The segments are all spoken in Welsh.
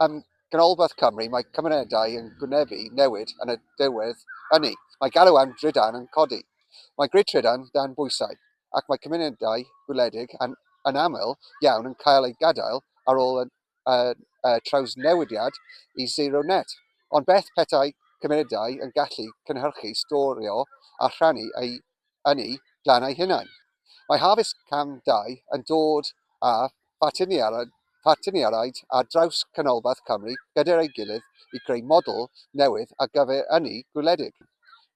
Yn Ganolbarth Cymru, mae cymunedau yn gwynebu newid yn y diwedd ynni. Mae galw am drydan yn codi. Mae grid trydan dan bwysau, ac mae cymunedau gwledig yn aml iawn yn cael eu gadael ar ôl y trawsnewidiad i Zero Net. Ond beth petai cymunedau yn gallu cynhyrchu, storio a rhannu eu yn eu glannau eu hunain. Mae Harvest Cam 2 yn dod â phartneriaid ar draws Canolbarth Cymru gydag ei gilydd i greu model newydd ar gyfer ynni gwledig.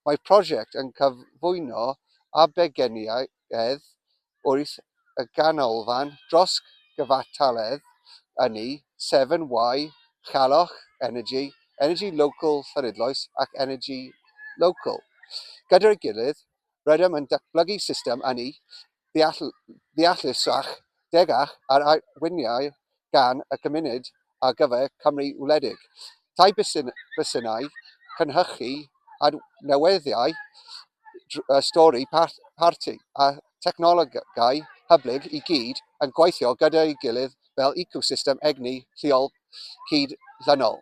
Mae'r prosiect yn cyflwyno arbegenniaid wrth y ganolfan dros gyfartaledd ynni, Severn Y, Challach Energy, Energy Local Llanidloes ac Energy Local. Gyda'i gilydd, rydym yn datblygu system ynni ddeallusach, degach ar arweiniad gan y Cymuned ar gyfer Cymru Wledig, tai bysiau, cynhyrchu adnewyddau stori parti a thechnolegau hyblyg i gyd yn gweithio gyda'i gilydd fel ecosystem egni lleol cyd-ddynol.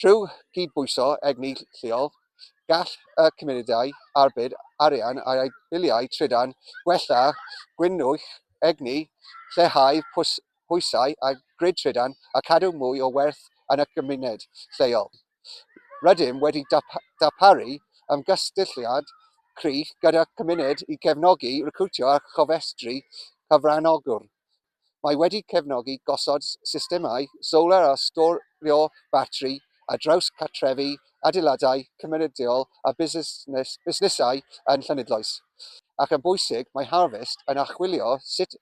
Trwy gydbwyso egni lleol, gall y cymunedau arbed arian ar eu biliau trydan, gwella gwynnwch egni, lleihau pwysau ar grid trydan a chadw mwy o werth yn y cymuned lleol. Rydym wedi darparu ymgysylltiad crych gyda'r cymuned i gefnogi recriwtio a chofrestru cyfranogwyr Mae wedi cefnogi gosod systemau solar a storio batri ar draws cartrefi, adeiladau cymunedol a busnesau yn Llanidloes. Ac yn bwysig, mae Harvest yn archwilio sut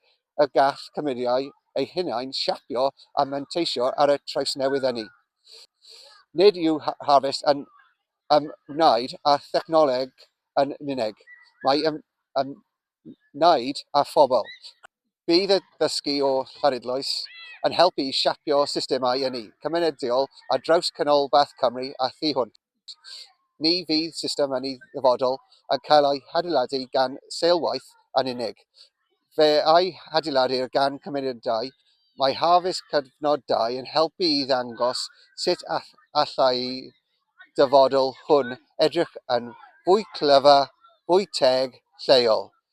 y gall cymeriau eu hunain siapio a manteisio ar y trawsnewid ynni. Nid yw Harvest yn ymwneud â thechnoleg yn unig, mae wneud â phobl. Bydd y dysgu o Llanidloes yn helpu i siapio systemau ynni cymunedol ar draws Canolbarth Cymru a thu hwnt. Ni fydd system ynni ddyfodol yn cael ei hadeiladu gan seilwaith yn unig. Fe a'i hadeiladir gan gymunedau. Mae Harvest Cyfnodau yn helpu i ddangos sut allai'r dyfodol hwn edrych yn fwy clyfar, fwy teg, lleol.